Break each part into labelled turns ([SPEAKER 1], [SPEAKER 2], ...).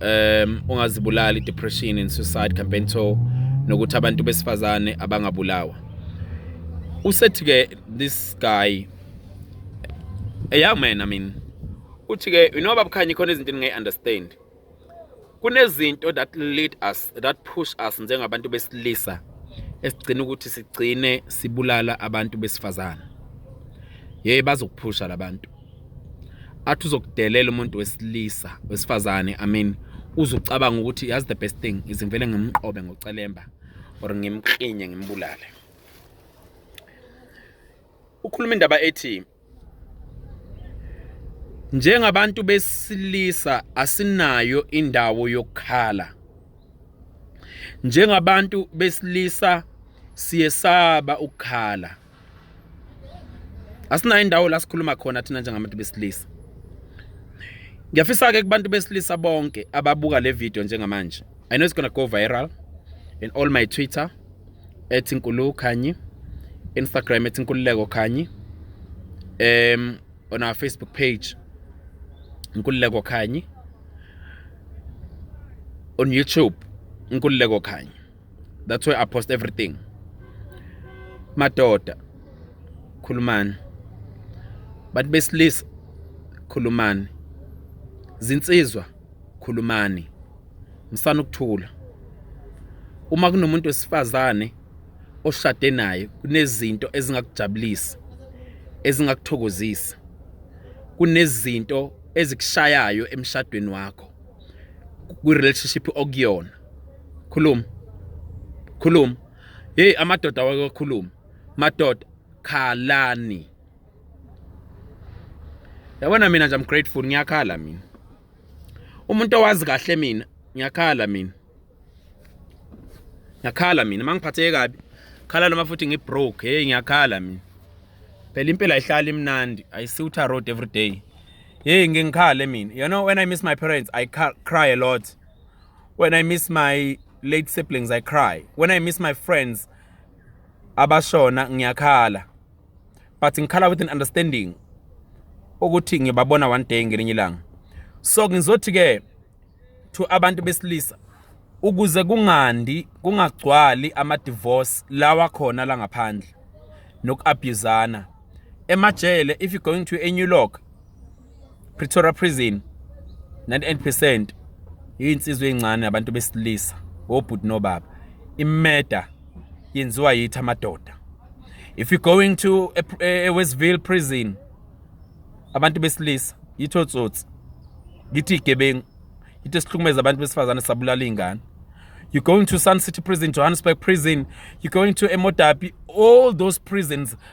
[SPEAKER 1] um ungazibulala i-depression and suicide campaign tour nokuthi abantu besifazane abangabulawa usethi-ke this guy a young man i mean uthi-ke you know babukhanye khona izinto endingayi-understand kunezinto that lead us that push us njengabantu besilisa esigcina ukuthi sigcine sibulala abantu besifazane yey bazokuphusha labantu athi uzokudelela umuntu wesilisa wesifazane i mean uzucabanga ukuthi yazi the best thing is ngivele ngimqobe ngocelemba or ngimklinye ngimbulale ukhuluma indaba ethi njengabantu besilisa asinayo indawo yokukhala njengabantu besilisa siyesaba ukukhala asinayo indawo la sikhuluma khona thina njengabantu besilisa ngiyafisa-ke kubantu besilisa bonke ababuka le video njengamanje i know it's gonna go viral in all my twitter ethi nkulu khanyi instagram ethi nkululeko khanyi um on our facebook page nkululeko khanyi on youtube nkululeko khanyi that's why i post everything madoda khulumani bantu besilisa khulumani zinsizwa khulumani msana ukuthula uma kunomuntu wesifazane oshade naye kunezinto ezingakujabulisa ezingakuthokozisa kunezinto ezikushayayo emshadweni wakho kwi-relationship okuyona khuluma khuluma hey amadoda wakokhuluma madoda khalani yabona mina nje I'm grateful ngiyakhala mina umuntu owazi kahle mina ngiyakhala mina ngiyakhala mina mangiphatheke kabi khala noma futhi ngibroke hey ngiyakhala mina phela impilo ayihlali imnandi i see uta road every day hey ngingikhala mina you know when i miss my parents i cry a lot When I miss my late siblings I cry. When I miss my friends abashona ngiyakhala. But ngikhala with an understanding ukuthi ngibabona one day ngelinye ilanga. So ngizothi ke to abantu besilisa ukuze kungandi kungagcwali ama divorce lawa khona la ngaphandle nokuabusana emajele if you going to a new lock Pretoria prison 98% yinsizwe encane abantu besilisa obhuti nobaba imeda yenziwa yithi amadoda if you going to a, a, a Westville prison abantu besilisa yitho tsotsi yithi igebengu yithi sihlukumeza abantu besifazane sabulala ingane you going to Sun City prison Johannesburg prison you going to Emodapi all those prisons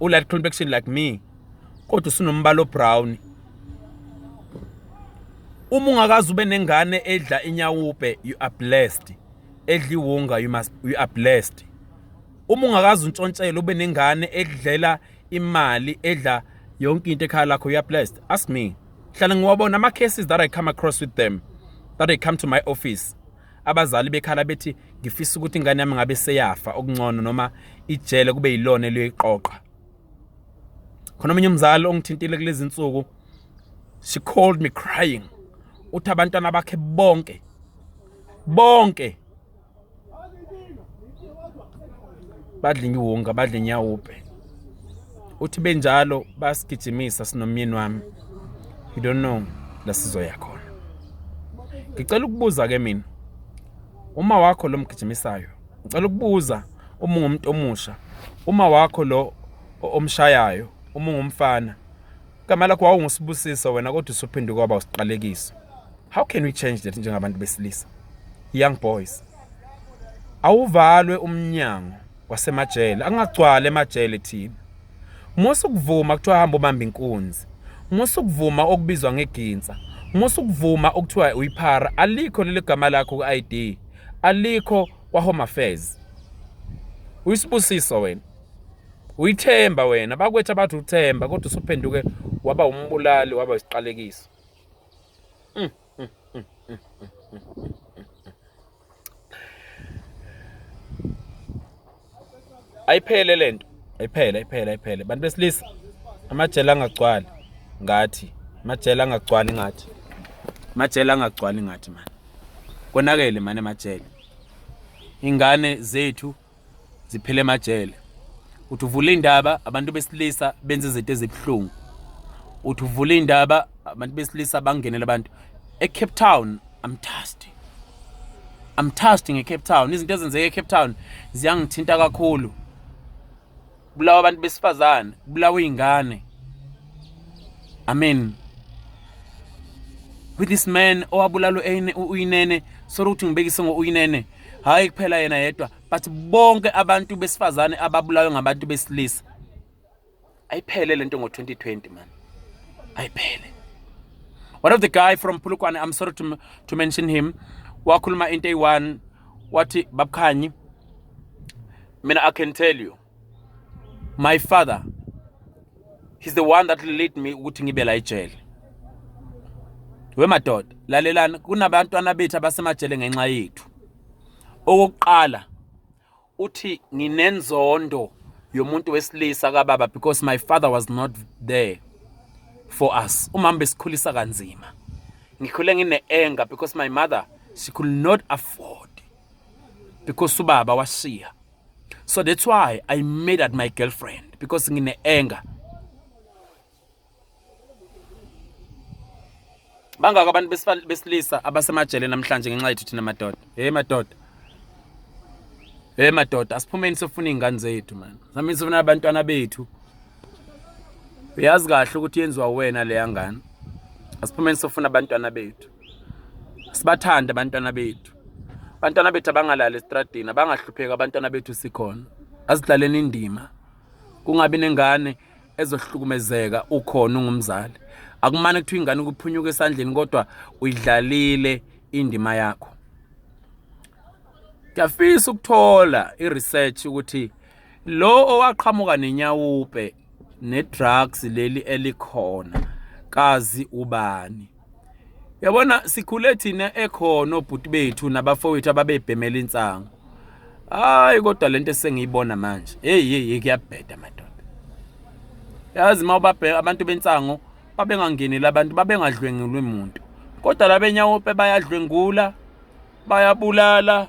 [SPEAKER 1] ulight complexion like me kodwa usunombala obrown uma ungakazi ube nengane edla inyawupe you are blessed edla iwunga you must you are blessed uma ungakazi untshontshele ube nengane edlela imali edla yonke into ekhaya lakho you are blessed ask me hlala ngiwabona ama cases that i come across with them that i come to my office Abazali bekhala bethi ngifisa ukuthi ingane yami ngabe seyafa okuncono noma ijele kube yilona eliyoyiqoqa. Khona omunye umzali ongithintile kulezi nsuku she called me crying uthi abantwana bakhe bonke bonke badla iwunga badla inyawupe uthi benjalo basigijimisa sinomyeni wami you don't know la sizoya khona ngicela ukubuza ke mina uma wakho lo mgijimisayo ngicela ukubuza uma ungumuntu omusha uma wakho lo omshayayo uma ungumfana igama lakho wawungusibusiso wena kodwa usuphinde kwaba usiqalekiso how can we change that njengabantu besilisa young boys awuvalwe umnyango wasemajele angagcwala emajele thina musa ukuvuma kuthiwa hamba ubamba inkunzi musa ukuvuma okubizwa ngeginsa musa ukuvuma okuthiwa uyiphara alikho leli gama lakho ku-id alikho kwahome affairs uyisibusiso wena uyithemba wena bakwethu abathi uthemba kodwa usuphenduke waba umbulali waba isiqalekiso mm. ayiphele lento ayiphele ayiphele ayiphele bantu besilisa amajele angagcwali ngathi amajele angagcwali ngathi amajele angagcwali ngathi mani konakele mani amajele ingane zethu ziphele emajele uthi uvula indaba abantu besilisa benza izinto ezibuhlungu uthi uvula indaba abantu besilisa bangenela abantu eCape Town I'm touched I'm touched ngeCape Town izinto ezenzeka eCape Town ziyangithinta kakhulu kubulawa abantu besifazane kubulawa iy'ngane i mean with this man owabulalo uyinene solo ukuthi ngibekise ngo-uyinene hhayi kuphela yena yedwa but bonke abantu besifazane ababulawe ngabantu besilisa ayiphele le nto ngo-2020 mani ayiphele one of the guy from pulukwane i'm sorry to, to mention him wakhuluma into eyi-one wathi babukhanyi I mean, I can tell you, my father, he's the one that led me ukuthi ngibe la ejele. We madoda, lalelani kunabantwana bethu abasemajele ngenxa yethu. Okokuqala uthi nginenzondo yomuntu wesilisa kababa because my father was not there for us. Umama besikhulisa kanzima. Ngikhule ngine anger because my mother she could not afford because ubaba washiya so that's why i made at my girlfriend because ngine anger bangaka abantu besilisa abasemajele namhlanje ngenxa yethu thina madoda hey madoda hey madoda asiphumeni sofuna izingane zethu man samini sofuna abantwana bethu uyazi kahle ukuthi yenziwa wena leya ngane asiphumeni sofuna abantwana bethu sibathande abantwana bethu abantwana bethu abangalali esitradini abangahlupheki abantwana bethu sikhona azidlaleni indima kungabi nengane ezohlukumezeka ukhona ungumzali akumane kuthiwa ingane kuphunyuka esandleni kodwa uyidlalile indima yakho ngiyafisa ukuthola i-research ukuthi lo owaqhamuka nenyawupe ne-drugs leli elikhona kazi ubani yabona sikhule thina ekhona obhuti bethu nabafowethu ababebhemela insangu hayi kodwa lento esengiyibona manje hey hey kuyabheda madoda yazi uma ubabheka abantu bensango babengangeneli abantu babengadlwengulwe muntu kodwa labenyawope bayadlwengula bayabulala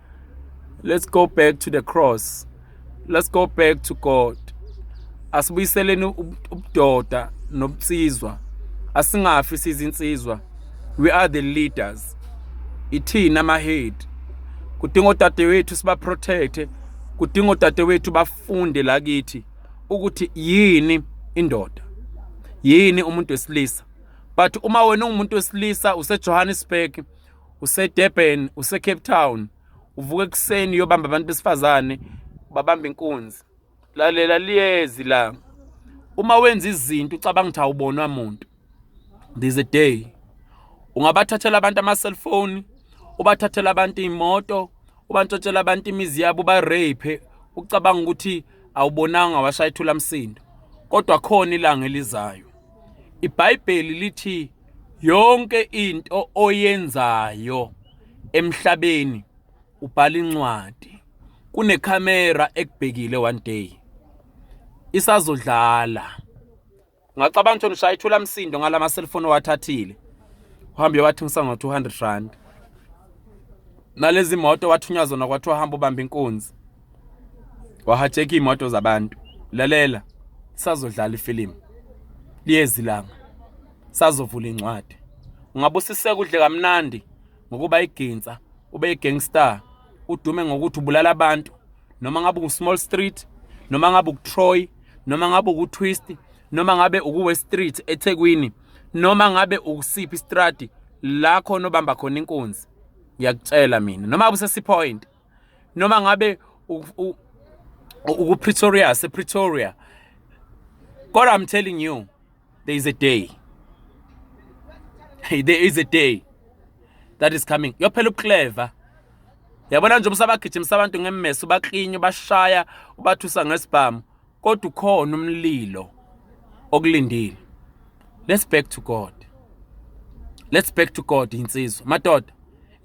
[SPEAKER 1] let's go back to the cross let's go back to god asibuyiseleni ubudoda nobutsizwa asingafi sizinsizwa we are the leaders ithina amahead kudinga odadewethu sibaprotecte kudinga odadewethu bafunde la kithi ukuthi yini indoda yini umuntu wesilisa but uma wena ungumuntu wesilisa usejohannesburg usedurban usecape town uvuka ekuseni uyobamba abantu besifazane babamba inkunzi lalela liyezi la uma wenza izinto ucabanga ukuthi awubonwa muntu there's a day ungabathathela abantu ama-cellphone ubathathela abantu iy'moto ubantshotshela abantu imizi yabo uba-rape ucabanga ukuthi awubonanga washayithula msindo kodwa khona ilanga elizayo iBhayibheli lithi yonke into oyenzayo emhlabeni ubhala incwadi kunekhamera ekubhekile one day isazodlala ngacabanga ukuthi ushaya ithula msindo ngalama cellphone owathathile uhambe wathi ngisa ngo 200 rand nalezi moto wathunyazona kwathiwa hamba ubamba inkunzi wahajeka iy'moto zabantu lalela sazodlala ifilimu liyezi langa sazovula incwadi ungabe usiseka udle kamnandi ngokuba iginsa ube i-gangstar udume ngokuthi ubulala abantu noma ngabe uku-small street noma ngabe uku-troy noma ngabe uku-twist noma ngabe uku-west street ethekwini noma ngabe ukusiphi istradi la khona obamba khona inkunzi ngiyakutshela mina noma busesipoint noma ngabe ukupretoria sepretoria kodwa i'm telling you there is a day there is a day that is coming yophela ubuclever yabona nje ubusabagijimisa abantu ngemmeso ubaklinye ubashaya ubathusa ngesibhamu kodwa ukhona umlilo okulindile let's back to god let's back to god insizwa madoda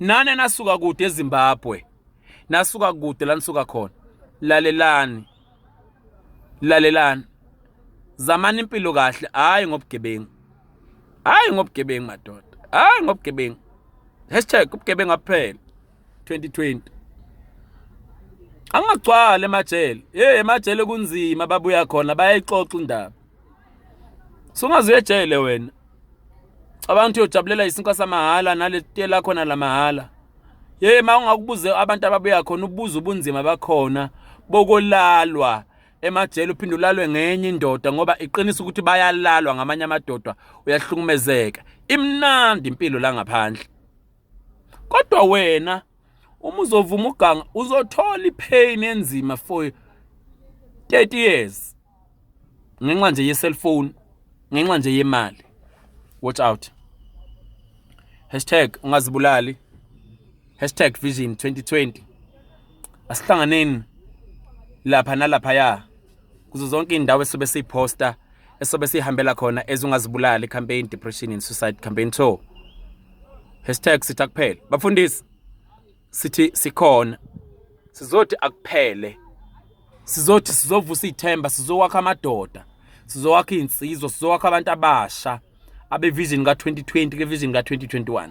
[SPEAKER 1] nane nasuka kude ezimbabwe nasuka kude la nisuka khona lalelani lalelani zamani impilo kahle hayi ngobugebengu hayi ngobugebengu madoda hayi ngobugebengu hashtag ubugebengu aphela 2020 angagcwala emajele hey emajele kunzima babuya khona bayayixoxa indaba sungaze uyejele wena abantu uyojabulela isinkwa samahhala naletiye lakho nalamahala hey ma ungakubuze abantu ababuya khona ubuza ubunzima bakhona bokolalwa emajele uphinde ulalwe ngenye indoda ngoba iqinisa ukuthi bayalalwa ngamanye amadoda uyahlukumezeka imnandi impilo la ngaphandle Kodwa wena uma uzovuma uganga uzothola ipain enzima for 30 years ngenxa nje ye cellphone ngenxa nje yemali watch out hashtag ungazibulali hashtag vision 2020 asihlanganeni lapha nalapha ya kuzo zonke indawo esobe siposter esobe sihambela khona ezungazibulali campaign depression and suicide campaign tour hashtag sithi akuphele bafundisi sithi sikhona sizothi akuphele sizothi sizovusa ithemba sizowakha amadoda sizowakha insizwa sizowakha abantu abasha abevision ka-2020 kevision ka-2021